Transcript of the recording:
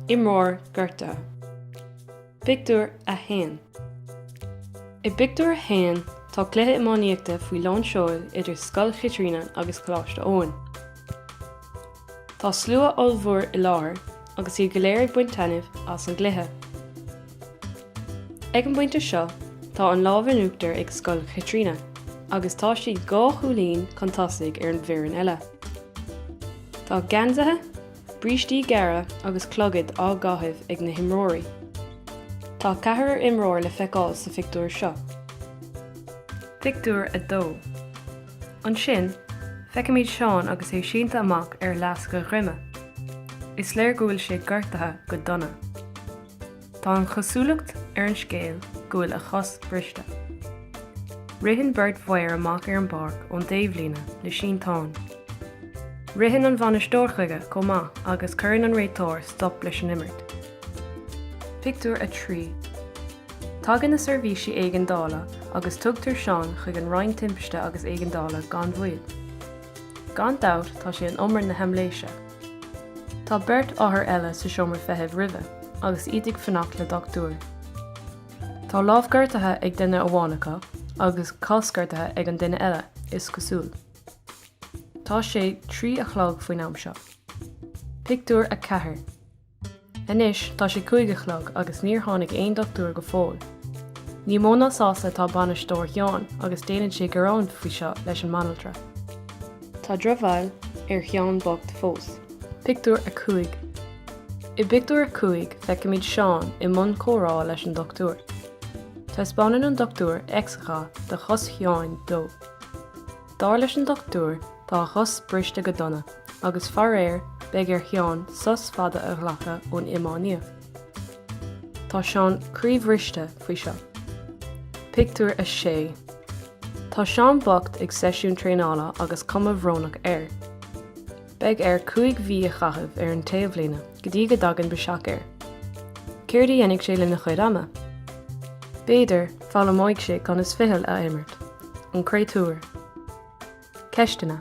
Imreoir gortaithe. Pictiúr a haon I bpictiúr a haon, tá cluiche iománaíochta faoi lán seoil idir Scoil Chaitríona agus Coláiste Eoin. Tá slua ollmhór i láthair agus iad go léir ag baint taitnimh as an gcluiche. Ag an bpointe seo tá an lámh in uachtar ag Scoil Chaitríona agus tá siad dhá chúilín chun tosaigh ar an bhfoireann eile. Tá geansaithe, brístí gearra agus clogaid á gcaitheamh ag na himreoirí. Tá ceathrar imreoir le feiceáil sa phictiúr seo. Pictiúr a dó Ansin, feicimid Seán agus é sínte amach ar fhleasc a dhroime. Is léir go bhfuil sé gortaithe go dona. Tá an chosúlacht ar an scéal go bhfuil a chos briste. Ritheann beirt mhaor amach ar an bpáirc ón dtaobhlíne le sínteán. Ritheann an bhainisteoir chuige chomh maith agus cuireann an réiteoir stop leis an imirt. Pictiúr a trí Tagann na seirbhísí éigeandála agus tugtar Seán chuig an Roinn Timpiste agus Éigeandála gan mhoill. Gan dabht tá sé in umar na haimléise. Tá beirt othar eile sa seomra feithimh roimhe agus iad ag fanacht le dochtúir. Tá lámh gortaithe ag duine amháin acu agus cos gortaithe ag an duine eile, is cosúil. Tá sé trí a chlog faoin am seo. Pictiúr a ceathair Anois tá sé cúig a chlog agus níor tháinig aon dochtúir go fóill. Ní mó ná sásta atá bainisteoir Sheáin agus déanann sé gearán faoi seo leis an mbanaltra. Tá drochbhail ar Sheán bocht fós. Pictiúr a cúig I bpictiúr a cúig feicimid Seán i mbun comhrá leis an dochtúir. Taispeánann an dochtúir x-gha de chos Sheáin dó. Dar leis an dochtúir tá a chos briste go dona agus faraor beidh ar Sheán sos fada a ghlacadh ón iománaíocht. Tá Seán croíbhriste faoi seo. Pictiúr a sé Tá Seán bocht ag seisiún traenála agus cuma bhrónach air. Beidh air cúig mhí a chaitheamh ar an taobhlíne go dtí go dtagann biseach air. Céard a dhéanfaidh sé lena chuid ama? B'fhéidir, foghlaimeoidh sé conas ficheall a imirt. An créatúr. Ceisteanna.